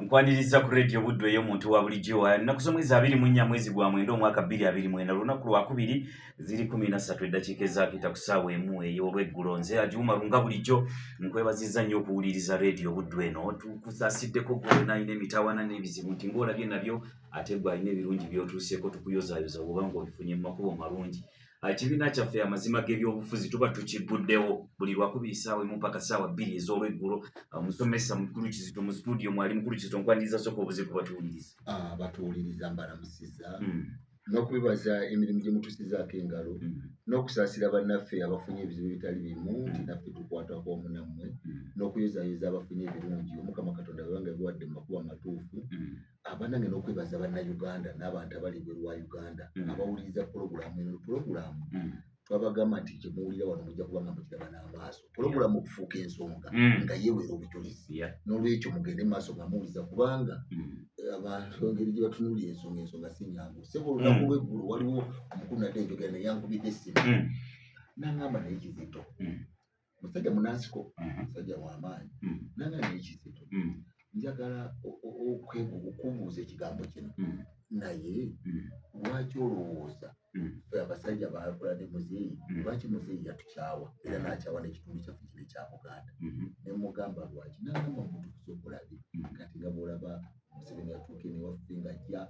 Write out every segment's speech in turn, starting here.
nkwaniriza ku radio buddu eyo omuntu wa bulijjo nnaku z'omwezi abiri mu nnya mwezi gwa mwenda omwaka bbiri abiri mwenda lunaku lwakubiri ziri kumi na ssatu eddakiika ezaakita ku ssaawa emu ey'olweggulo nze agiwuma lunga bulijjo nkwebaziza nnyo okuwuliriza radio buddu eno tukusasiddeko gwolina alina emitawana n'ebizibu nti ng'olabye nabyo ate gwe alina ebirungi by'otuuseeko tukuyozaayoza woba ng'obifunye mu makubo malungi ekibiina kyaffe amazima g'ebyobufuzi tuba tukigguddewo buli lwakubiri saawa emu mpaka saawa bbiri ez'olweggulo omusomesa ah, mukulu kizito mu situdiyo mwali mukulu kizito nkwaniriza soka obuze ku batuwuliriza ah, batuwuliriza mbalamusiza hmm. n'okubibaza emirimu gye mutusizaako engalo hmm. n'okusaasira bannaffe abafunye ebizibu ebitali bimu hmm. nti naffe tukwatako omu nammwe n'okuyozayoza abafunye ebirungi omukama katonda bebanga biwadde mu makuba amatuufu abanange n'okwebaza bannayuganda n'abantu abali ebweru wa uganda mm. abawuliriza pulogulaamu eno pulogulaamu mm. twabagamba nti kyemuwulira wano mujja kuba nga mukiraba n'amaaso pulogulaamu okufuuka ensonga mm. nga yeewera obujulizi n'olwekyo mugende maaso nga muwuliza kubanga eh, abantu engeri gye batunulira ensonga ensonga si nyangu sebo olunaku lw'eggulo waliwo omukulu nadde enjogera naye ankubidde essimu nangamba naye kizito musajja munansiko mhm. musajja wamaanyi mhm. nanga nekizito mhm. njagala okubuuza ekigambo kino naye lwaki olowooza fe abasajja bakola ne muzeeyi lwaki muzeeyi yatukyawa era nakyawa nekitundu kyaffe kino ekya buganda nemugamba lwaki nagamba omuntu kusobola bi kati nga bwolaba museveni yatuuka enewaffe ngajja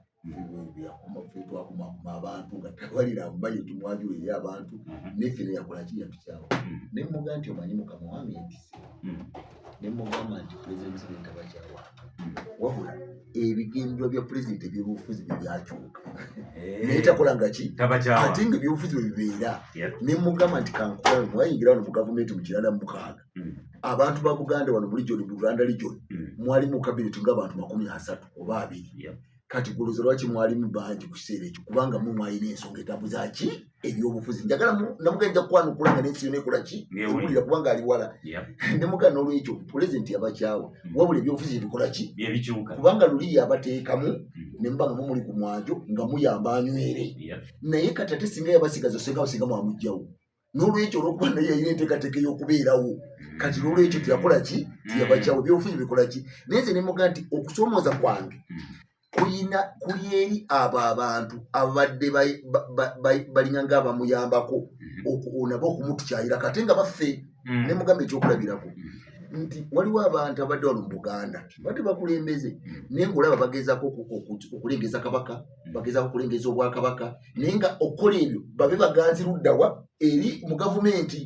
byakumakumakuma abantu nga tewalira amumanyi tumwajula eri abantu mhm. neffe neyakola kiyatukyalo mhm. nemuga nti omanyi mukama wange entise mhm. nemugamba nti pulezidenti museveni tabakyawa wabula ebigendwa bya pulezidenti ebyobufuzi bye byakyuka eh. naye takola nga ki ate nga ebyobufuzi bwe bibeera nemugamba nti kankulamu mwayingira wano mu gavumenti mu kirana mukaaga mm. abantu ba buganda wano mu lijoni bulanda lijoni mm. mwali mu kabineti ngaabantu makumi asatu oba abiri yeah. kati guluza lwaki mwalimu bangi ku kiseera ekyo kubanga mu mwalina ensonga etabuza ki ebyobufuzi njagala namugenda nja kukwanukula nga nensi yona ekola ki ewulira kubanga ali wala ne mugana n'olwekyo pulezidenti yabakyawa mm. wabula ebyobufuzi ebikola ki kubanga luli yabateekamu mm. ne mubanga mumuli ku mwanjo nga muyamba anywere naye kati ate singa yabasigaza senga basinga mwamugjawo nolwekyo olwokuba naye yalina enteekateeka eyokubeerawo kati nolwekyo teyakola ki teyabakyawo byobufuzi bikola ki naye nze nemuga nti okusomooza kwange kulina kuli eri abo abantu ababadde balina nga abamuyambako nabo okumutukyayira kate nga baffe mm. nemugamba ekyokulabirako nti waliwo abantu abadde wano mu buganda badde bakulembeze naye ngaolaba bagezako okulengeza kabaka bagezako okulengeza obwakabaka naye nga okukola ebyo babe baganzi luddawa eri mu gavumenti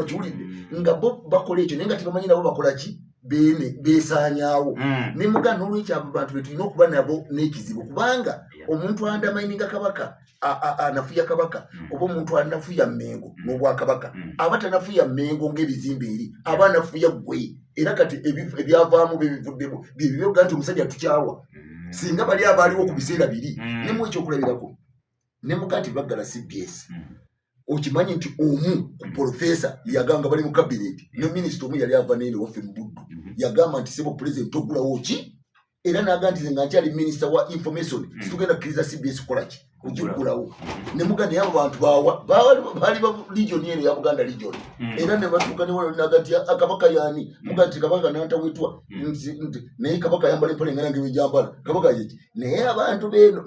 okiwulidde nga bo bakola ekyo naye nga tebamanyi nabo bakola ki bene besanyawo mm. ne muga nolwekyo abo bantu betulina okuba nabo n'ekizibu kubanga omuntu andamaininga kabaka anafuya kabaka mm. oba omuntu anafuya mengo mm. n'obwakabaka aba tanafuya mengo ng'ebizimba eri aba anafuya gwe era kati ebyavaamu byebivuddemu byebibyogga nti omusajja tukyawa mm. singa bali abaaliwo ku biseera biri mm. nemu ekyokulabirako ne mukati baggala cbs mm. okimanyi nti omu ku profesa yagamba bali mu kabineeti ne minisita omu yali ava naye newaffe mu buddu mm-hmm. yagamba nti sebo pulezidenti ogulawo ki era naga nti ze nga nkyali minisita wa information mm. situgenda kukkiriza cbs kukolaki ojikulawo mm-hmm. nemuga naye abo bantu baali ba legion eno ya buganda legion mm-hmm. era nebatuuka newanagati akabaka yani mm-hmm. muga nti kabaka nantawetwa naye kabaka yambala empale ngana ngewejambala kabaka yeki naye abantu beno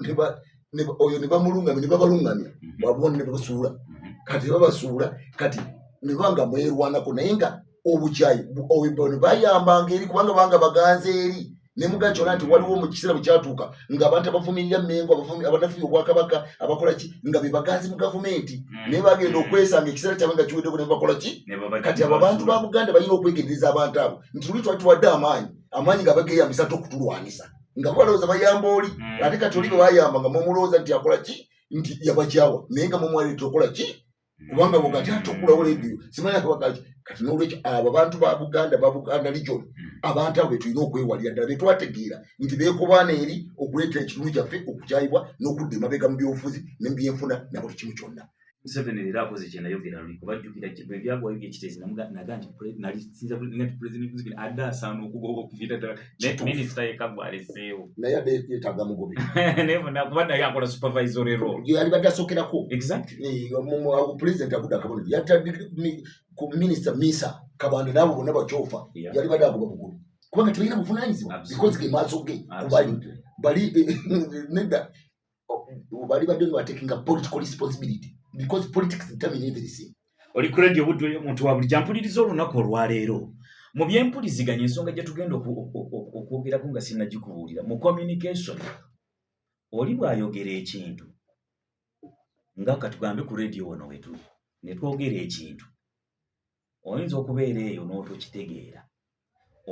oyo nebamulungamya nebabalungamya babona nebasuula kati babasuula kati nebanga mwerwanako naye nga obujayi obubono bayambanga eri kubanga banga baganze eri nemugacola nti waliwo mu kiseera bwe kyatuuka nga abantu abavumirira mengo abanafuya obwakabaka abakola ki nga bebaganzi mu gavumenti hmm. naye bagenda okwesanga ekiseera kyabwe nga kiweddeko nebakola ki kati abo abantu ba buganda balina okwegendereza abantu abo nti luli twali tuwadde amaanyi amaanyi nga bageyambisa te okutulwanisa nga balowooza bayamba oli hmm. ate kati oli bebayamba nga mumulowooza nti akola ki nti yabakyawa naye nga mumwaleta okola ki kubanga bugati atukulawo leediyo simanyi akabagaki kati nolwekyo abo abantu ba buganda ba buganda region hmm. abantu abo betulina okwewalira ddala betwategeera nti bekobaana eri okuleetera ekitundu kyaffe okukyayibwa n'okudda emabega mu byobufuzi ne mubyenfuna nabuli kimu kyonna museveni leero akoze kyenayogera luli kubajjukira bwebyagwayo byekiteezi naga nti nali sinza nti pulezidenti museveni adde asaana okugoba okuviira ddala minisita yeka gwaleseewo naye ade yetaaga mugobi naye bona kuba naye akola supervisory role yalibadde asookerako pulezidenti agudde akabonero yatadde ku minisita misa kabanda naabo bonna bakyofa yalibadde agoba bugulu kubanga tebalina buvunanyizibwa because ge maaso ge kubali bali nedda bali badde nga batekinga political responsibility because politics determine everything oli ku radio budde omuntu wa bulijjo ampuliriza olunaku olwaleero mu byempuliziganya ensonga gye tugenda okwogerako nga sinnagikubuulira mu communication oli bw'ayogera ekintu nga katugambe ku radio wano wetuli ne twogera ekintu oyinza okubeera eyo n'otokitegeera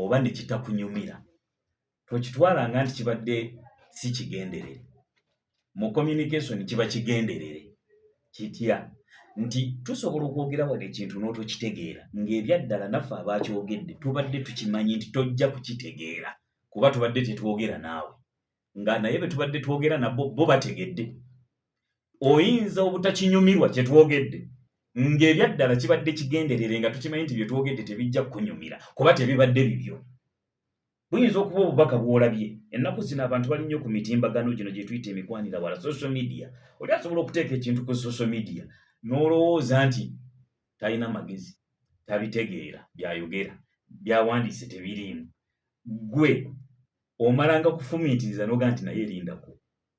oba ne kitakunyumira tokitwala nga nti kibadde si kigenderere mu communication kiba kigenderere kitya nti tusobola okwogera wano ekintu n'otokitegeera ng'ebyaddala naffe abaakyogedde tubadde tukimanyi nti tojja kukitegeera kuba tubadde tetwogera naawe nga naye be tubadde twogera nabo bo bategedde oyinza obutakinyumirwa kye twogedde ng'ebyaddala kibadde kigenderere nga tukimanyi nti bye twogedde tebijja kukunyumira kuba tebibadde bibyo buyinza okuba obubaka bwolabye ennaku zino abantu bali nnyo ku mitimbagano gino gye tuyita emikwanira wala social media oli asobola okuteeka ekintu ku social media n'olowooza nti talina magezi tabitegeera byayogera byawandiise tebiriimu gwe omalanga kufumiitiriza noga nti naye erindako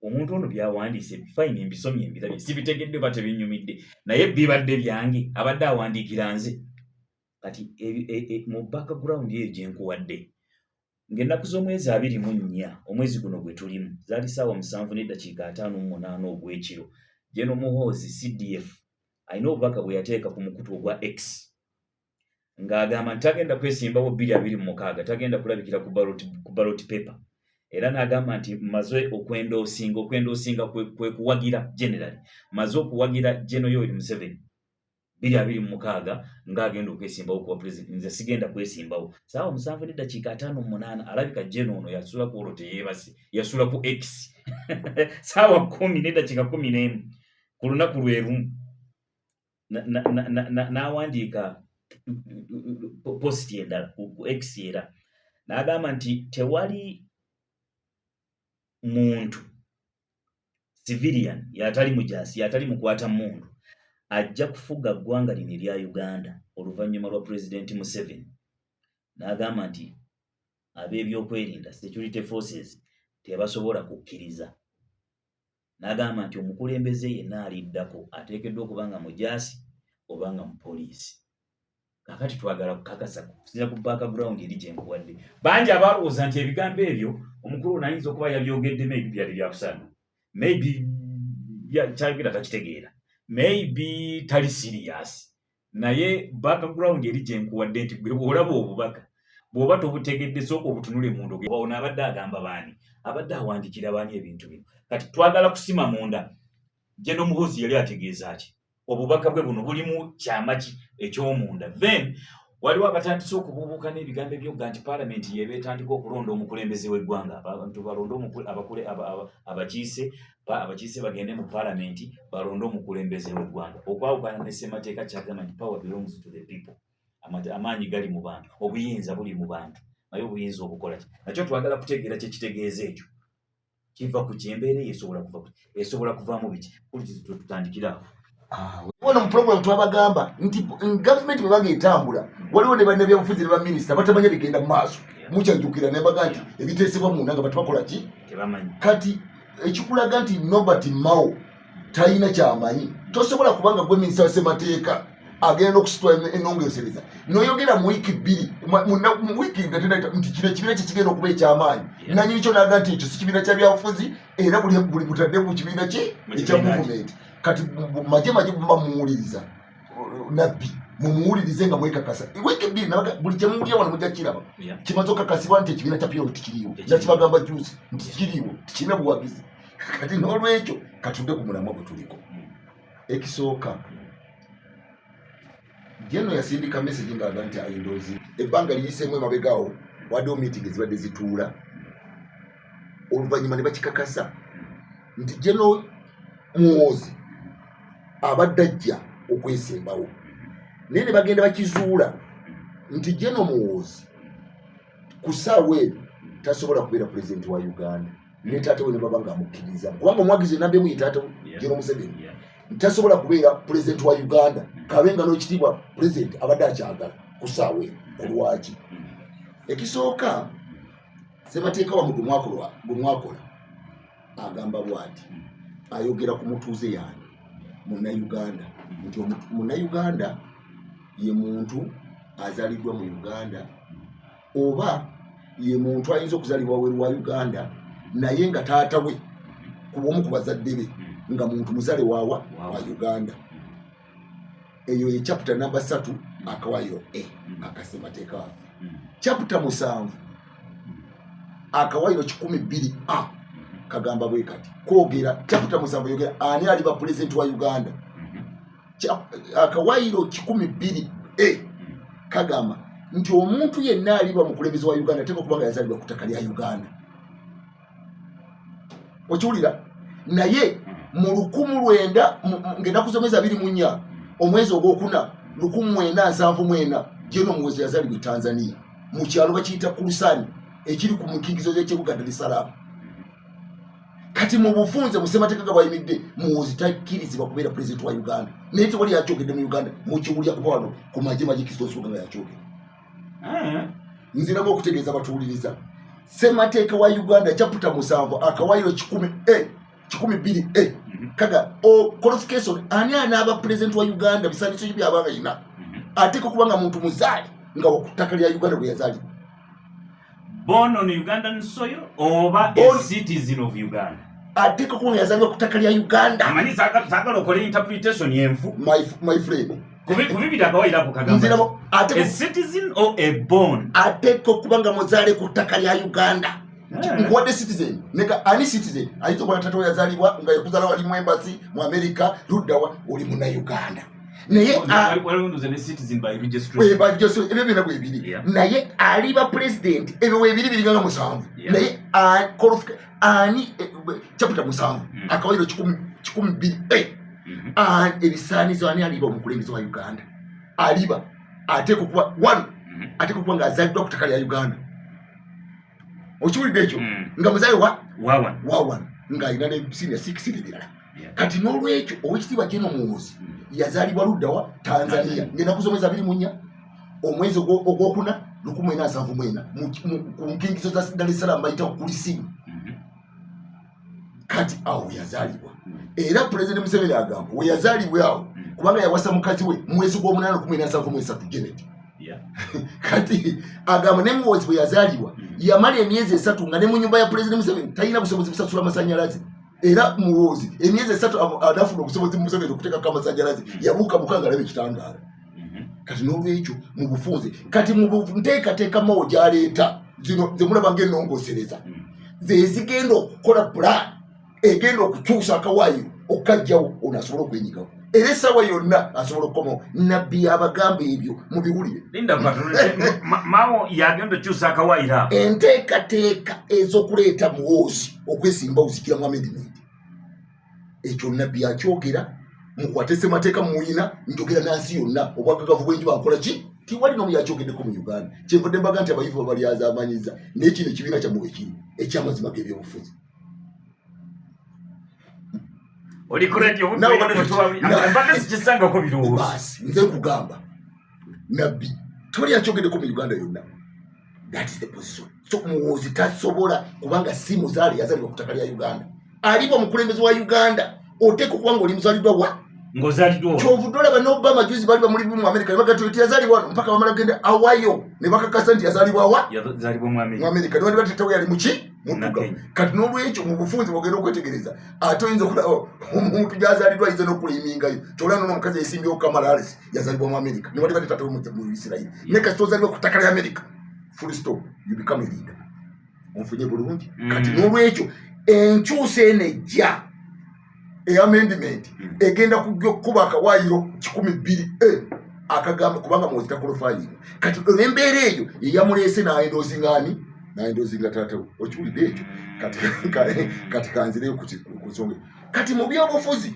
omuntu ono byawandiise fine mbisomye mbirabye sibitegedde oba tebinyumidde naye bibadde byange abadde awandiikira nze kati e, e, e, mu background eyo gyenkuwadde ng'ennaku z'omwezi abiri mu nnya omwezi guno gwe tulimu zaali saawa musanvu n'eddakiika ataano mu munaana ogw'ekiro geno muhoozi cdf alina obubaka bwe yateeka ku mukutu ogwa x ng'agamba nti tagenda kwesimbawo bbiri abiri mu mukaaga tagenda kulabikira ku baloti pepa era n'agamba nti maze okwenda osinga okwenda osinga kwe kuwagira generali maze okuwagira geno yoweri museveni bbiri abiri mu mukaaga ng'agenda okwesimbawo kuba pulezidenti nze sigenda kwesimbawo saawa musanvu n'eddakiika ataano mu munaana alabika geno ono yasula ku olwo teyeebase yasula ku x saawa kumi n'eddakiika kumi n'emu ku lunaku lwe lumu n'awandiika positi endala ku x era n'agamba nti tewali muntu civilian yatali mujaasi yatali mukwata mundu ajja kufuga ggwanga lino erya uganda oluvannyuma lwa pulezidenti museveni n'agamba nti ab'ebyokwerinda security forces tebasobola kukkiriza n'agamba nti omukulembeze yenna aliddako ateekeddwa okuba nga mujaasi oba nga mupoliisi kakati twagala kukakasa kusinza ku background eri gyenkuwadde bangi abaalowooza nti ebigambo ebyo omukulu ono ayinza okuba yabyogedde maybe byali byakusaana maybe kyayogera takitegeera maybe tali siriyasi naye background eri gyenkuwadde nti gwe bwolaba obubaka bwoba tobutegedde sooka obutunule munda ono abadde agamba baani abadde awandikira baani ebintu bino kati twagala kusima munda jeno muhoozi yali ategeeza ki obubaka bwe buno bulimu kyama ki ekyomunda then waliwo abatandise okubuubuuka n'ebigambo ebyogga nti paalamenti yeeba etandika okulonda omukulembeze w'eggwanga abantu balonde abakiise abakiise bagende mu palamenti balonde omukulembeze w'eggwanga okwawukana ne ssemateeka kyagamba nti power belongs to the people amaanyi gali mu bantu obuyinza buli mu bantu naye obuyinza obukola ki nakyo twagala kutegeera kyekitegeeza ekyo kiva ku kyembeera eyo esobola kuva esobola kuvaamu biki kulitutandikirawo wano mu program twabagamba nti government bwe baga etambula waliwo ne bannabyabufuzi ne baminisita batamanya bigenda mu maaso mukyajukira naye baga nti ebiteesebwa munda nga batubakola ki kati ekikulaga nti nobert mao talina kyamanyi tosobola kubanga gwe minisita wasemateeka agenda okusitwa enongesereza noyogera mu wiiki bbiri mu wiiki ngatenata nti kino ekibiina kye kigenda okuba ekyamaanyi nanyini kyo naga nti ekyo si kibiina kya byabufuzi era buli butadde ku kibiina ki ekya muvumenti kati maje maje bumba muwuliriza nabbi mumuwulirize nga mwekakasa wiiki bbiri nabaga buli kyemuwulira wano mujja kiraba kimaze okakasibwa nti ekibiina kya piolo tikiriiwo era kibagamba juusi nti kiriiwo tikirina buwagizi kati n'olwekyo katudde ku mulamwa gwe tuliko mm. ekisooka mm. Jeno yasindika message ng'aga nti ayindoozi ebbanga liyiseemu emabegawo waliwo meeting ezibadde zituula oluvannyuma ne bakikakasa nti jeno muwoozi abadde ajja okwesembawo naye ne bagenda bakizuula nti jeno muwoozi ku ssaawa eno tasobola kubeera pulezidenti wa uganda ne taata we ne baba nga amukkiriza kubanga omwagizi enamba emu ye taata we jero museveni tasobola kubeera pulezidenti wa uganda mm. kabe nga n'ekitiibwa pulezidenti abadde akyagala ku saawa eno olwaki mm. ekisooka sebateeka wamu gwe mwakola agamba bwati mm. ayogera ku mutuuze yange munnauganda nti munnauganda ye muntu azaliddwa mu uganda oba ye muntu ayinza okuzalibwa weru wa uganda naye nga taata we kubomu ku bazadde be nga muntu muzale wawa wa uganda eyo ye chapita namba satu akawayiro e hmm. akasemateeka wafe hmm. chapita musanvu akawayiro kikumi bbiri a hmm. kagamba bwe kati kwogera chapita musanvu yogera ani aliba pulezidenti wa uganda akawayiro kikumi bbiri e kagamba nti omuntu yenna aliba mukulembeze wa uganda ateeka okuba nga yazalibwa ku ttaka lya uganda okiwulira naye mu lukumu lwenda ngaenaku zomwezi abiri munya omwezi ogwokuna lukumu mwenda nsanvu mwena jeno muwezi yazalibwa etanzania mu kyalo bakiyita kulusani ekiri ku mukigizo gyekibuga dar es salaam kati mu bufunze busemateeka ga bwayimidde muwoozi takkirizibwa kubeera pulezidenti wa uganda naye tewali yakyogedde mu uganda mukiwulya kuba wano ku magye magikizita nsonga nga yakyogedde eh. nziramu okutegeeza batuwuliriza semateeka wa uganda chaputa musanvu akawayo kikumi e eh, kikumi bbiri e eh. mhm. kaga qualification ani anaaba pulezidenti wa uganda bisandiso ki byabanga yina mhm. ateeka okuba nga muntu muzaali nga wakuttaka lya uganda bwe yazaalibwa born on Ugandan soil oba a citizen of Uganda ateeka kuba yazalibwa ku ttaka lya uganda amanyi sagala okola interpretation yenvu my friend ateeka okuba nga muzaale ku ttaka lya uganda eh. nkuwadde citizen neka ani citizen ayinza okuba natata yazalibwa nga yakuzala wali mu embasi mu amerika luddawa oli muna uganda naye ebyo byona bwebiri naye aliba pulezidenti ebyo webiri biri byona musanvu naye ani eh, caputa musanvu mm. akawairo kikumi biri eh. mm-hmm. ebisaanizo ani aliba omukulembeze wa uganda aliba ateeka okuba one mm-hmm. ateeka okuba nga azaddwa ku ttaka lya uganda okiwulidde ekyo hmm. nga muzayi wa wawan nga alina ne senior six nebirala kati n'olwekyo owekitiibwa jeno muwuzi hmm. yazaalibwa luddawa tanzania ngenaku zomwezi abiri munya omwezi ogwokuna lukumu ena asanvu mwena ku nkingizo za dar es salaam bayita kulisimu kati awo weyazaalibwa era pulezidenti museveni agamba weyazaalibwa awo kubanga yawasa mukazi we mwezi gw'omunaana kumi nasanvu mu esatu genet kati agamba ne muwozi bwe yazaalibwa yamala emyezi esatu nga ne mu nyumba ya pulezidenti museveni talina busobozi busasula masanyalaze era muwozi emyezi esatu anafuna obusobozi mu museveni okuteekako amasanyalaze yabuuka mukanga alaba ekitangaala mhm. kati n'olwekyo mu bufunze kati mu nteekateeka mawo gyaleeta zino zemulaba ngaenongosereza mhm. zezigenda okukola plan egenda okukyusa akawaayiro okukajjawo ono asobola okwenyigawo era esawa yonna asobola okukoma nabbi abagamba ebyo mu biwulire mawo yagenda okyusa akawaayiro enteekateeka ez'okuleeta muwoozi okwesimba ozikira mu amendimenti ekyo nabbi akyogera mukwate semateeka mumuyina njogera nansi yonna obwagagavu bwenji bakola ki tiwali nomu yakyogedeko mu uganda kyenvudde mbaga nti abayivu babalyazamanyiza naye kino ekibiina kyamwe wekiri ekyamazima gebyobufuzi nze nkugamba nabbi tewali akyogedeko mu uganda yonna that is the position so muwoozi tasobola kubanga si muzaale yazalibwa ku ttaka lya uganda aliba omukulembezi wa uganda oteeka okuba nga oli muzaliddwa wa kyovude olaba nobama juzi bali bamuli mu amerika nebagatuleti yazalibwa wano mpaka bamala genda awayo nebakakasa nti yazalibwa wa mu amerika newali batetewo yali muki mutuga kati nolwekyo mubufunzi bogenda okwetegereza ate oyinza okulaba omuntu gyazalidwa ayinza nokulimingayo kyolaba nono omukazi yesimbyewo kamalales yazalibwa mu america newali bali tata omujja mu isirairi ne kasita ozalibwa ku ttaka lya america full stop you become a leader onfunye bulungi mm. kati n'olwekyo enkyusa eno ejja eamendiment mm. egenda kujja okukuba akawayiro kikumi bbiri eh, akagamba kubanga mwozi takulufayinga kati olwembeera eyo yeyamuleese naendozingani naendozinga tatawe okiwulidde ekyo kati kanzire ku nsonga kati mu byobufuzi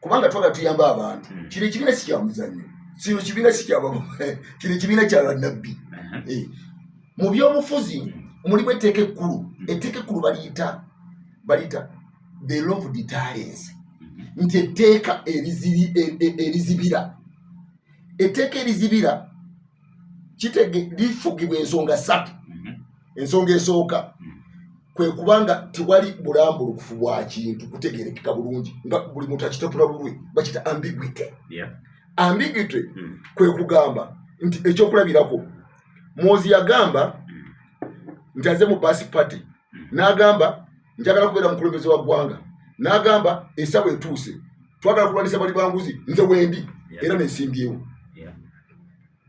kubanga twagala tuyamba abantu hmm. kino ekibiina si kyamuzanyo kino kibiina si kyaba kino ekibiina kya bannabbi uh-huh. eh. mu byobufuzi hmm. mulimu etteeka ekkulu hmm. etteeka ekkulu baliyita baliyita the law of deterrence nti etteeka e, e, erizibira etteeka erizibira kitege lifugibwa ensonga satu mhm. ensonga esooka mhm. kwe kubanga tewali bulambulukufu bwa kintu kutegerekeka bulungi nga buli muntu akitapula bulwe bakita ambiguity ambiguity mhm. kwe kugamba nti ekyokulabirako mwozi yagamba nti aze mu basi party n'agamba njagala kubeera mukulembeze wa ggwanga n'agamba esaba etuuse twagala kulwanisa bali banguzi nze wendi era nesimbyewo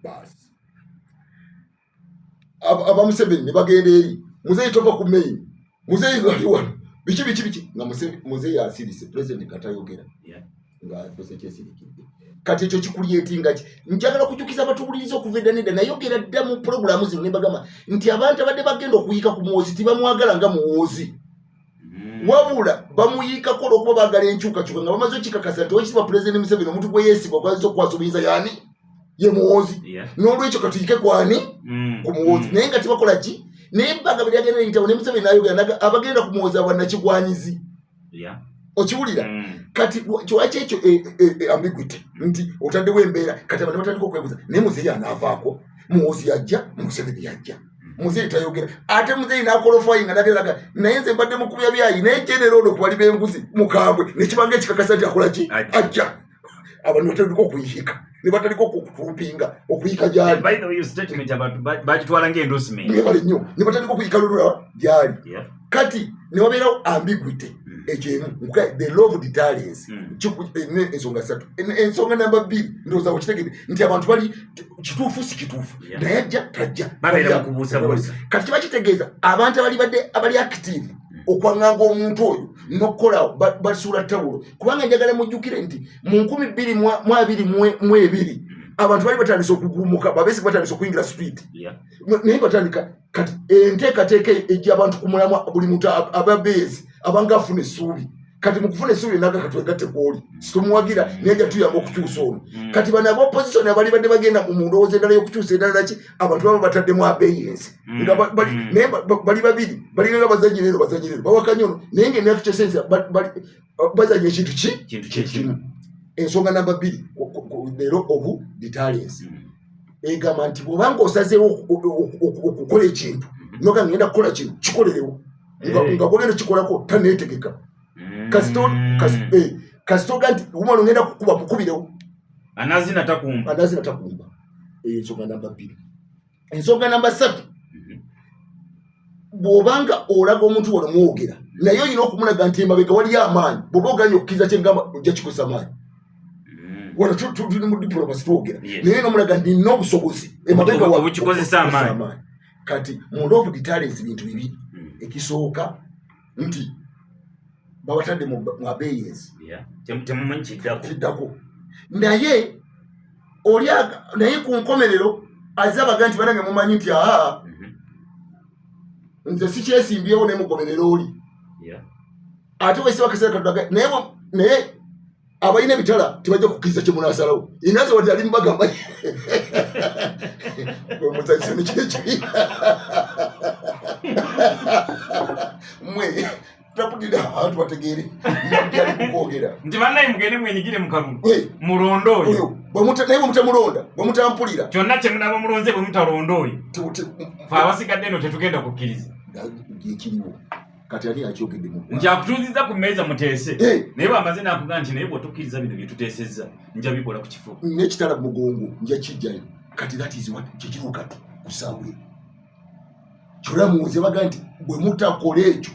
baasi abamuseveni ne bagenda eri muzeeyi tova ku main muzeeyi ali wano biki biki biki nga muzeeyi asirise president katayogera nga afuuse kyesirikidde kati ekyo kikulyetinga ki njagala kujukiza abatuwuliriza okuva edda nedda nayogera dda mu pulogulaamu zino nebagamba nti abantu abadde bagenda okuyiika ku muwoozi tibamwagala nga muwoozi mm. wabula bamuyiikako olwokuba bagala enkyukakyuka nga bamaze okikakasa nti owekitiibwa pulezidenti museveni omuntu gwe yeesibwa gwazisa okukwasa obuyinza yani ye muwoozi n'olwekyo katuyike kwani mm. ku muwoozi mm. naye nga tibakola ki naye ebbanga bye lyagenda eyitawo ne museveni nayogera abagenda ku muwoozi abanakigwanyizi okiwulira mm. kati kiwaki ekyo e, e, e, ambiguity nti otaddewo embeera kati abantu batandika okwebuza naye muzeeyi anaavaako muwozi yajja museveni yajja muzeeyi tayogera ate muzeeyi nakolofayi nga nateraga naye nze mbadde mukubya byayi naye general ono kubali benguzi mukambwe nekibanga ekikakasa nti akolaki ajja abantu batandika okuyika ne batandika okutumpinga okuyika gyali bagitwala ngaendosimebale nnyo ne batandika okuyika lolola gyali kati ne wabeerawo ambiguity hmm. ekyo emu the law of deterrence hmm. eh, ensonga satu ensonga namba bbiri ndowooza okitegede nti abantu bali kituufu si kituufu naye ajja tajja kati kiba kitegeeza abantu abali badde abali active hmm. okwanganga omuntu oyo nokukolawo basuula tawulo kubanga njagala mujjukire nti mu nkumi bbiri mu abiri mu ebiri abantu bali batandise okugumuka babesi batandise okuyingira sipiidi naye batandika kati enteekateeka ejja abantu ku mulamwa buli muntu ababeezi abanga afuna essuubi kati mukufuna esuubi enaga katwegatte kwoli situmuwagira naye ja tuyamba okukyusa ono mm. kati bano aba opposition abalibadde bagenda mu ndowooza endala y'okukyusa endala ki abantu baba bataddemu abeeyensi mm. nga mm. naye bali babiri balinga bazanyi lero bazanyi lero bawakanya ono naye nga enaku kyesensi bazanya ekintu ki kintu kyekimu ensonga namba bbiri leero obu ditalensi mm. egamba nti bwobanga osazeewo okukola ekintu mm-hmm. noga ngenda kukola kino kikolerewo eh. nga bwogenda kikolako taneetegeka mm. kasitoga eh, nti umwana ogenda kukuba mukubirewo anazina takumba anazina takumba eyo nsonga namba bbiri ensonga namba satu bw'obanga olaga omuntu wano mwogera naye olina okumulaga nti emabega waliyo amaanyi bwoba oganye okukkiriza kyengamba ojja kikozesa maanyi mm. wano tuli mu diplomasi twogera naye nomulaga nti nina obusobozi emabegaobukikozesa amaanyi kati mu love detalens bintu bibiri mm. ekisooka nti babatadde mu abeyensi temumanyi kiddako naye oli naye ku nkomerero aze abaga nti banange mumanyi nti aha mhm. nze sikyesimbyewo nemugoberera oli ate wesiba kaseera katulaga naye naye abalina ebitala tebajja kukkiriza kye munaasalawo inaze wati ali mubagamba omuzanyisa nekiro ekibi mwe taputira abantu bategeere nabyalikukwogera nti banaye mugende mwenyigire mukalulu mulonda oyo naye bwemutamulonda bwemutampulira kyonna kyemunaba mulonze bwemutalonda oyo fe abasigadde eno tetugenda kukkiriza ekiriwo kati ani yakyogedde mu nti akutuuzizza ku mmeeza muteese eh. naye bwamaze nakuga nti naye bwotukkiriza bino byetuteesezza nja bikola ku kifo nekitala mugongo nja kijjayo kati that is what kikiro kati kusawe kyona muwuze baga nti bwe mutakola ekyo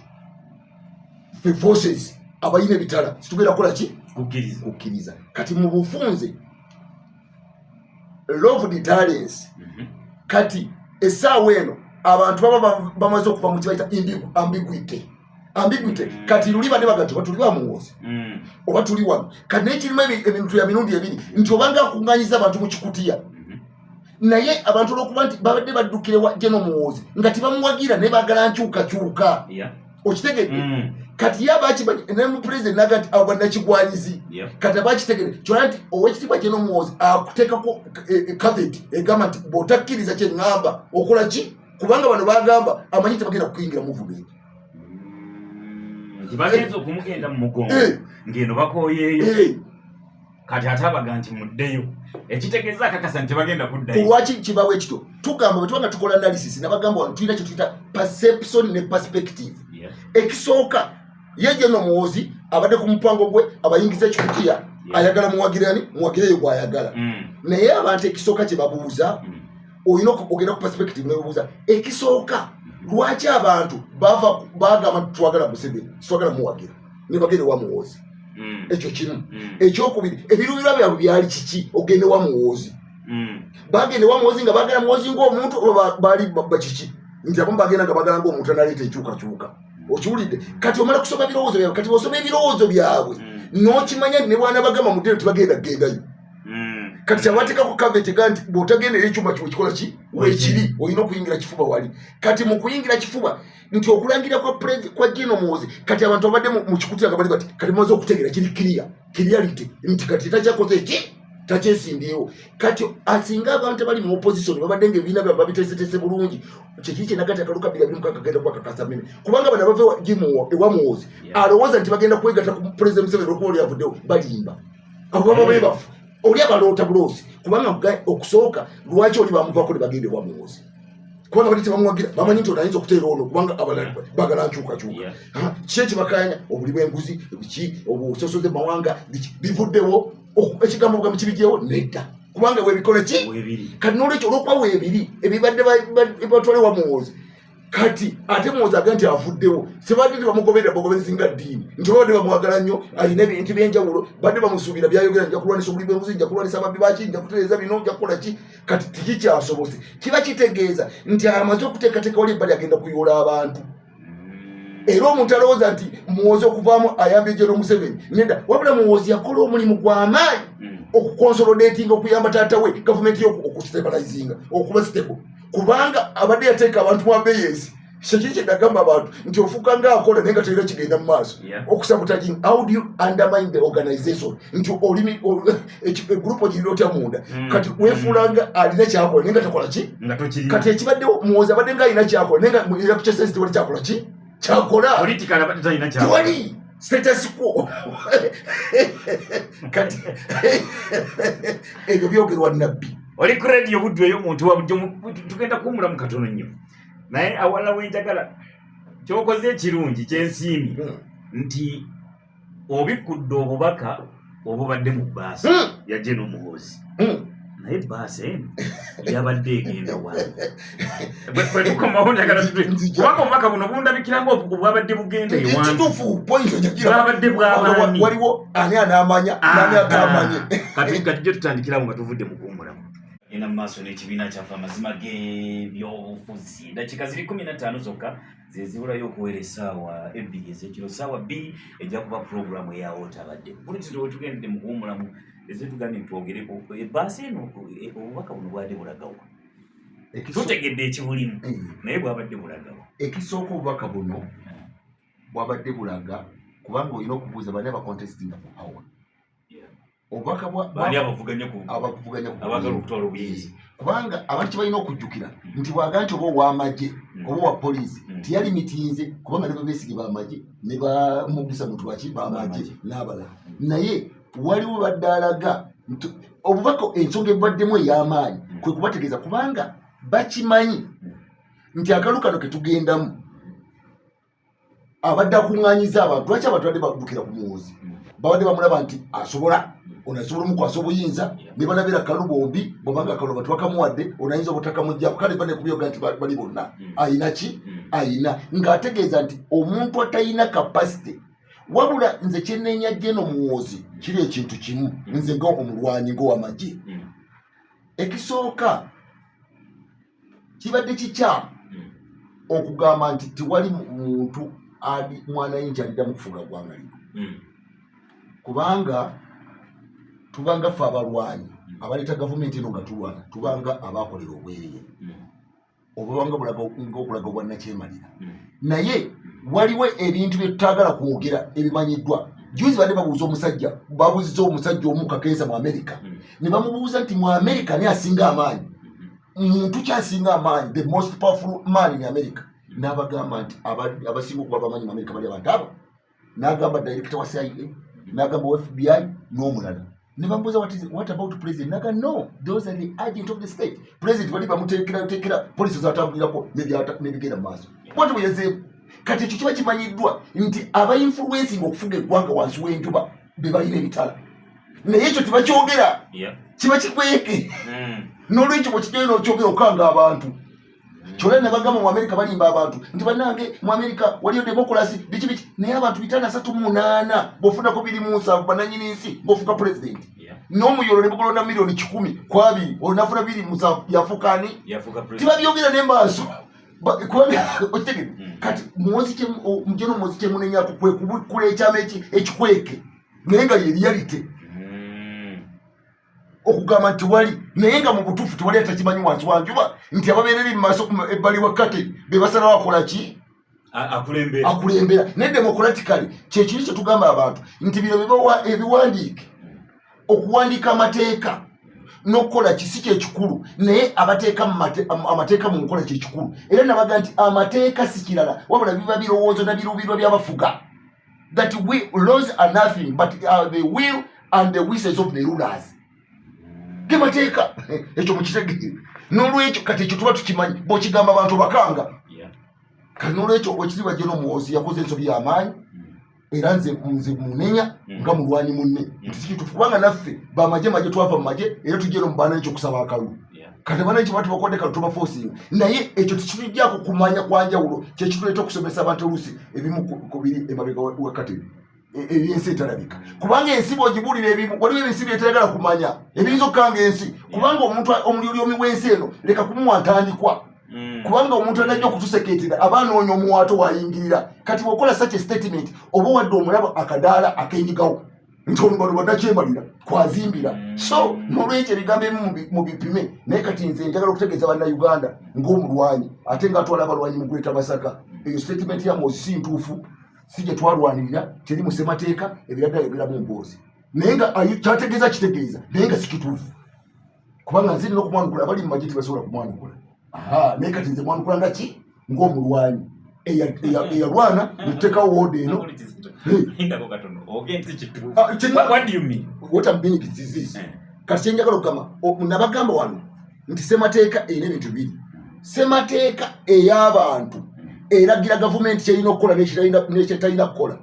fe forces abayina ebitala situgenda kukola ki kukkiriza kati mu bufunze love the talents mm -hmm. kati esaawa eno abantu baba bamaze okuva mu kibaita ambiguity ambiguity mm. kati luli bane bagati oba tuli bamuwoozi mm. oba tuli wano kati naye kirimu ebintu ya mirundi ebiri nti obanga akunganyiza abantu mu kikutiya mm-hmm. naye abantu olwokuba nti babadde baddukirewa jeno muwoozi nga tibamuwagira naye bagala nkyukakyuka yeah. okitegedde mm. kati ye abakimanyi nemupulezidenti naga nti abo banakigwanyizi kati abakitegede kyona nti owekitiibwa kye nomuwoozi akuteekako kaveti e, e, egamba nti bwotakkiriza kyeŋŋamba okola ki kubanga bano bagamba amanyi tebagenda kukuyingira muvumenti mm. bagenza okumugenda mu mugongo eh. ng'eno bakoyeeyo eh. kati ate abaga nti muddeyo ekitegeeza akakasa nti tebagenda kuddayo lwaki kibawo ekito tugamba bwetuba nga tukola analysis nabagamba wano tulina kyetuyita perception ne perspective ekisooka ye jeno omuwozi abadde ku mupango gwe abayingiza ekikutiya ayagala muwagirani muwagire eyo gwayagala mm. naye abantu ekisooka kyebabuuza mm. olina okugenda ku perspective nebabuuza ekisooka mm-hmm. lwaki abantu bagamba twagala museveni twagala muwagira ne bagenda ewa muwoozi mm. ekyo kimu mm. ekyokubiri ebiruubirwa byabwe byali kiki ogenda ewa muwoozi mm. bagenda ewa muwoozi nga bagenda muwoozi ngaomuntu oba baali babba kiki nti abamu bagenda nga bagala ngaomuntu analeeta enkyukakyuka okiwulidde kati omala kusoma ebirowoozo byabwe kati bosoma ebirowoozo byabwe nokimanya nti ne bwana bagamba mudde nti bagenda kugendayo kati kyabateekako kaveti ga nti bw'otagendera ekyuma kiwe kikola ki wekiri olina okuyingira kifuba wali kati mu kuyingira kifuba nti okulangira kwa prezi kwa jeno muwozi kati abantu abadde mu kikutira nga bali bati kati mumaze okutegera kiri kiriya kiriyalite nti kati takyakoze ki takyesimbyewo kati asinga abantu abali mu opposition babadde nga ebibiina byabwe babiteeseteese bulungi kyekiri kyenagati akalu kabiri abiri mukaka genda kubakakasa mene kubanga bana bava ewa muwozi alowooza nti bagenda kwegata ku prezi museveni okuba oli avuddewo balimba abo baba bebafu oli abaloota buloozi kubanga okusooka lwaki oli bamuvako ne bagenda ewa muwozi kubanga bali tebamuwagira bamanyi nti otayinza okuteera ono kubanga abalala bagala nkyukakyuka ki ekibakanya obuli bwenguzi biki obusosoze mawanga bivuddewo ekigambo bugambo kibigyewo nedda kubanga webikole ki kati nolwekyo olwokuba webiri ebibadde batwale wa muwoozi kati ate muwoozi aga nti avuddewo sebadde tebamugoberera bogobezi nga ddiini nti babadde bamwagala nnyo alina ebintu byenjawulo badde bamusuubira byayogera nja kulwanisa obuli bwenguzi nja kulwanisa ababbi baki nja kutereeza bino nja kukola ki kati tekikyasobose kiba kitegeeza nti amaze okuteekateeka wali ebbali agenda kuyoola abantu era omuntu alowooza nti muwoozi okuvaamu ayamba ejero museveni neda wabula muwoozi yakola omulimu gw'amaanyi hmm. okukonsolodatinga okuyamba taata we gavumenti yo okustabalizinga okuba sitebo kubanga abadde yateeka abantu mu abeyensi kyekyo kyegagamba abantu nti ofuuka nga akola naye nga tolina kigenda mu maaso okusabutagin how do you undermine the organization nti olimi egroup ogirira otya munda mm. kati wefuulanga mm. alina kyakola naye nga takola ki kati ekibaddewo muwozi abadde nga alina kyakola naye nga era kukyesezi tewali kyakola ki kyakola tewali status quo kati ebyo byogerwa nabbi oli ku radio buddu eyo omuntu wabujjo tugenda kuwumulamu katono nnyo naye awalala wenjagala kyokoze ekirungi kyensiimi hmm. nti obikkudde obubaka obubadde mu bbaasi hmm. yajje n'omuhoozi hmm. naye bbaasi eno yabadde egenda wawetukomawo njagala kubanga obubaka buno bundabikira nga obwabadde bugenda ewandibwabadde bwabaniwaliwo ani anamanya ani agamanye ah, kati kati gye tutandikirawo nga tuvudde mukuumulamu genda mu maaso n'ekibiina kyaffe amazima g'ebyobufuzi eddakiika ziri kumi na ttaano zokka zezibulayo okuwera essaawa ebbiri ez'ekiro ssaawa bbiri ejja kuba pulogulaamu eyawo otabadde bulitiro wetugendedde mu kuwumulamu ezitugambye ntitwogereko ebbaasa eno e, obubaka buno bwade bulagawa tutegedde ekibulimu eh. naye bwabadde bulagawa ekisooka obubaka buno bwabadde bulaga kubanga olina okubuuza bani abakontestinga mu awa obubaka bwani abavuganya ku abavuganya ku abagala okutwala obuyinza kubanga abantu balina okujjukira hmm. nti bwaga nti oba ow'amagye hmm. oba owa poliisi hmm. teyali mitinze kubanga ne babeesige b'amagye ne bamugisa muntu waki b'amagye n'abalala naye waliwo badde alaga nti obubaka ensonga ebwaddemu ey'amaanyi kwe kubategeeza kubanga bakimanyi nti akalu kano ke tugendamu abadde akuŋŋanyiza abantu lwaki abantu badde badukira ku muwoozi mm. babadde bamulaba nti asobola mm. onasobola omukwasa obuyinza ne balabira kalu bombi bwabanga kalu abantu bakamuwadde onayinza obutakamugjaku kale banekubyoga nti bali bonna mm. ayina ki ayina ng'ategeeza nti omuntu atalina kapasite wabula nze kyenenya jeno muwoozi kiri ekintu kimu nze nga omulwanyi ngaowamagye ekisooka kibadde kikyamu hmm. okugamba nti tewali muntu ali mwana yinki aliddamu kufuula ggwanga lino hmm. kubanga tubanga ffe abalwanyi hmm. abaleeta gavumenti eno nga tulwana tubanga abakolera obwerere obubanga bulaga okulaga obwannakyemalira naye waliwo ebintu bye tutaagala kwogera ebimanyiddwa juzi bade babuuza omusajja babuuziza omusajja omu kakensa mu amerika ne bamubuuza nti mu amerika naye asinga amaanyi muntu kyasinga amaanyi the most powerful man in america n'abagamba nti abasinga okuba bamanyi mu amerika bali abantu abo n'agamba director wa cia n'agamba wa fbi n'omulala ne bamubuuza what about president naga no those are the agent of the state president bali bamuteekerayoteekera polisi zatambulirako nebigenda mu maaso bwati bweyazeemu kati ekyo kiba kimanyiddwa nti abainfluensinga okufuga eggwanga wansi w'enjuba be balina ebitala naye ekyo tebakyogera kiba kikweke hmm. nolwekyo bwekigenda nokyogera okanga abantu hmm. kyona nebagamba mu amerika balimba abantu nti banange mu amerika waliyo demokulasi biki biki naye abantu bitano asatu munaana bofunako biri munsanvu bananyini nsi bofuka pulezidenti nomuyolo nebugulonda milioni kikumi kwabiri onafuna biri munsanvu yafukani tibabyogera nemaaso okitegede hmm. kati mujeno muwozi kyemunenyako kwe kubikula ekyama ekikweke naye nga yeriyalite hmm. okugamba nti wali naye nga mu butuufu tewali atakimanyi wansi wanjuba nti ababeereri mu maaso ebbali wa kate be basalawo akola ki akulembera naye democratically kyekiri kyetugamba abantu nti bino bibawa ebiwandiike okuwandiika amateeka nokukola kisi kyekikulu naye abateeka amateeka mu nkola kyekikulu era nabaga nti amateeka si kirala wabula biba birowoozo na biruubirwa byabafuga that we laws are nothing but uh, the will and the wishes of the rulers ge mateeka ekyo mukitegere nolwekyo kati ekyo tuba tukimanyi bwekigamba abantu bakanga kati nolwekyo okiziba jeno muwozi yakoze ensobi yamaanyi era nze nze munenya mm. nga mulwanyi munne mm. nti sikitufu kubanga naffe bamaje maje twava mu maje era tujja eno mu bananchi okusaba akalulu kati bananchi batu bakwade kalulu tubafosinga naye ekyo tekitujjako kumanya kwanjawulo kyekituleeta okusomesa abantu oluusi ebimu ku biri emabega wakateri ebyensi etalabika kubanga ensi bwogibulira ebimu waliwo ebinsi byetayagala kumanya ebiyinza okukanga ensi kubanga omuntu omulyolyomi wensi eno leka kumuwa ntandikwa Mm. kubanga omuntu anajja okutuseketera aba anoonya omuwaato wayingirira kati wakola such statement oba wadde omulaba akadaala akenyigawo nti olubaluba nakyemalira kwazimbira mm. so nolwekyo ebigambo ebimu mu bipime naye kati nze njagala okutegeeza bannauganda ngaomulwanyi ate nga atwala abalwanyi mu gweta masaka eyo statement ya mozi si ntuufu si gye twalwanirira teri mu ssemateeka ebiraddayogeramu mboozi naye nga kyategeeza kitegeeza naye nga sikituufu kubanga nziri nokumwanukula abali mumaje tibasobola kumwanukula naye kati nze mwanukula nga ki ngaomulwanyi eyalwana netutekawo woda eno kati kyenjagala okugamba nabagamba wano nti semateeka erina ebintu biri semateeka ey'abantu eragira gavumenti kyerina okukola nekyetalina kukola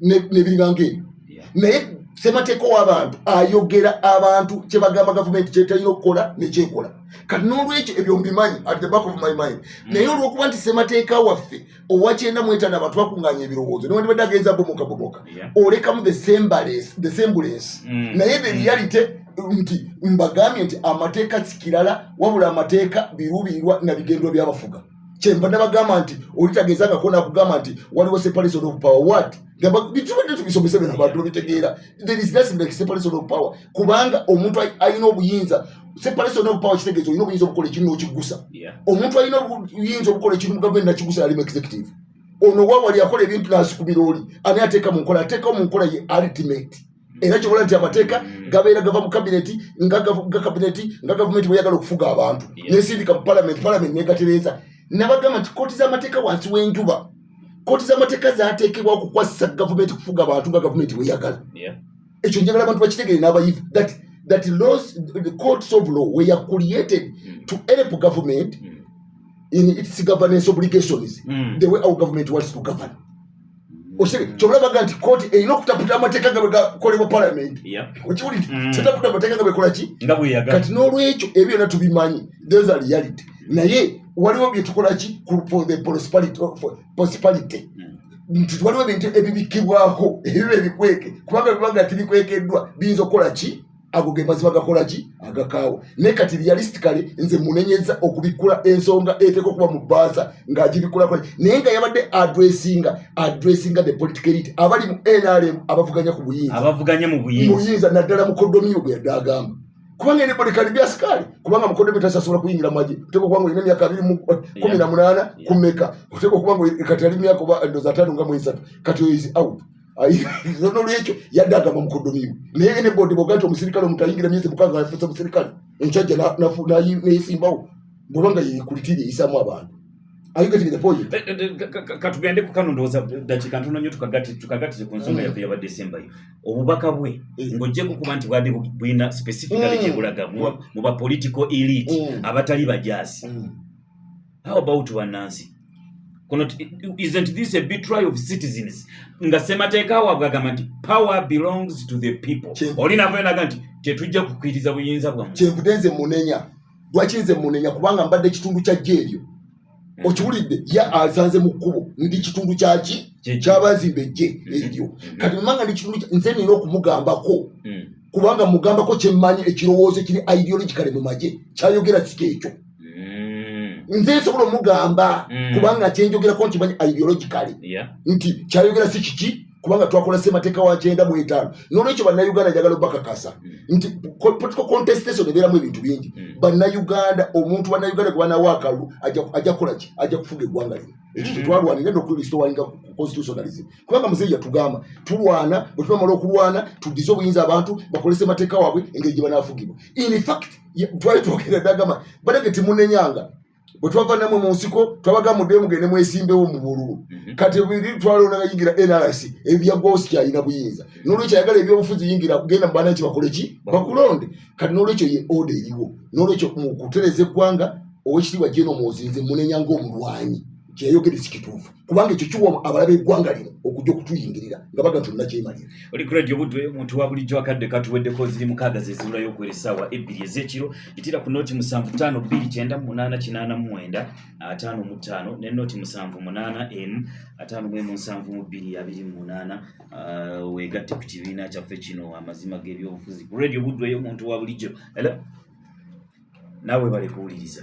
nebiringanga ebyo naye semateeka owabantu ayogera abantu kyebagamba gavumenti kyetalina okukola nekyekola kati nolwekyo ebyo mbimanyi at the back of my mind hmm. naye olwokuba nti semateeka waffe owakyenda mwetana abantu bakunganya ebirowoozo newandibadde agenza bomoka bomoka olekamu the sembulensi hmm. naye the hmm. reality nti mbagambye nti amateeka sikirala wabula amateeka birubirirwa na bigendwa byabafuga kyenva nabagamba nti olitageeza nga kona kugamba nti waliwo separation of power wat bitubadetubisomese bino abantu babitegeera there is nothing like separation of power kubanga omuntu alina obuyinza separation of power kitegeeza olina obuyinza obukola ekintu nokigusa omuntu alina obuyinza obukola ekintu mu gavumenti nakigusa yalimu executive ono wawali akola ebintu nasukumira oli ani ateeka mu nkola ateekawo mu nkola ye ultimate era kyobola nti amateeka gabeera gava mu kabineti nga kabineti nga gavumenti bweyagala okufuga abantu nesindika mu palamenti palamenti negatereeza nabagamba nti kooti z'amateeka wansi w'enjuba kooti z'amateeka zateekebwa okukwasisa gavumenti kufuga abantu nga gavumenti bweyagala ekyo njagala abantu bakitegere n'abayivu that that laws the courts of law were created mm. to help government mm. in its governance obligations mm. the way our government wants to govern osebe mm. kyobola baga nti kooti erina okutaputa amateeka nga bwegakolebwa parliament okiwulire mm. tetaputa amateeka nga bwekola ki kati n'olwekyo ebyo byona tubimanyi those are reality mm. naye waliwo byetukola ki for the prosperity nti waliwo ebintu ebibikibwako ebiba ebikweke kubanga bibanga tibikwekeddwa biyinza okukola ki ago ge mazima gakola ki agakaawa naye kati realistically nze munenyeza okubikkula ensonga eteeka okuba mu bbaasa ng'agibikkulako naye nga yabadde adressinga adressinga the political elite abali mu nrm abavuganya ku buyinza abavuganya mu buyinza naddala mukodomiyo gwe yadde agamba kubanga ene bodekali bya sikaali kubanga mukodomiyo tasasobola kuyingira mwaje oteeka okuba nga olina emyaka abiri eh, kumi na munaana kumeka oteeka okuba nga kati ali myaka oba ndoza ataano nga mwesatu kati oyo is out nolwekyo yadde agamba mukodomiwe naye enebodi boga nti omusirikale omutayingira myezi mukaaga yafuuse musirikale enkyajja neyesimbawo bwebanga yekulitiri eyisamu abantu katugende kukano ndowooza dakika ntono nyo tukagatire ku nsonga yaffe yaba desemba yo obubaka bwe eh. ng'ojjeko kuba nti bwade bulina specifically mm. gyebulaga mu ba political elite mm. abatali bajaasi mm. how about bannansi kuno isn't this a betray of citizens nga ssemateeka waabwe agamba nti power belongs to the people oli nava enaga nti tetujja kukkiriza buyinza bwamu kyenvude nze munenya lwaki nze munenya kubanga mbadde kitundu kya jja eryo mm-hmm. okiwulidde ye azanze mu kkubo ndi kitundu kyaki kyabazimba ejje mm-hmm. eryo mm-hmm. kati mumanga ndi kitundu nze nina okumugambako mm. kubanga mugambako kyemmanyi ekirowoozo kiri ideologicale mu magye kyayogera kika ekyo mm. nze nsobola omugamba mm. kubanga kyenjogerako nti manyi ideologicale nti kyayogera si kiki kubanga twakola semateeka wa kyenda mu etaano nolwekyo bannayuganda njagala obakakasa mm. nti political contestation ebeeramu ebintu bingi mm. bannayuganda omuntu bannayuganda gwe banawo akalulu ajja kukola ki ajja kufuga eggwanga lino ekyo mm. kyetwalwanira nokulistowalinga constitutionalism kubanga muzeeyi yatugamba tulwana bwetunamala okulwana tudize obuyinza abantu bakolese mateeka waabwe engeri gye banaafugibwa infact twali twogera dagama badage timunenyanga bwe twava namwe mu nsiko twabaga muddeyo mugende mwesimbewo mu bululu mhm. kati biri twalonagayingira nrc ebyaggwawo sikyalina buyinza nolwekyo ayagala ebyobufuzi yingira genda mubaana ki bakole ki bakulonde kati nolwekyo ye oda eriwo nolwekyo mu kutereza eggwanga owekitiibwa jeno muozinze munenya ngaomulwanyi kyeyayogere sikituufu kubanga ekyo kiwa abalabe eggwanga lino okujja okutuyingirira nga baga nti olunakyemalira oli grade obudde omuntu wa bulijjo akadde katuweddeko ziri mukaaga zeziula yokuwera essaawa ebbiri ez'ekiro itira ku nooti musanvu taano bbiri kyenda mu munaana kinaana mu mwenda ataano mu ttaano ne nooti musanvu munaana emu ataano mu emu nsanvu mu bbiri abiri mu munaana uh, weegatte ku kibiina kyaffe kino amazima g'ebyobufuzi ku radio obuddu eyo omuntu wa bulijjo era naawe balikuwuliriza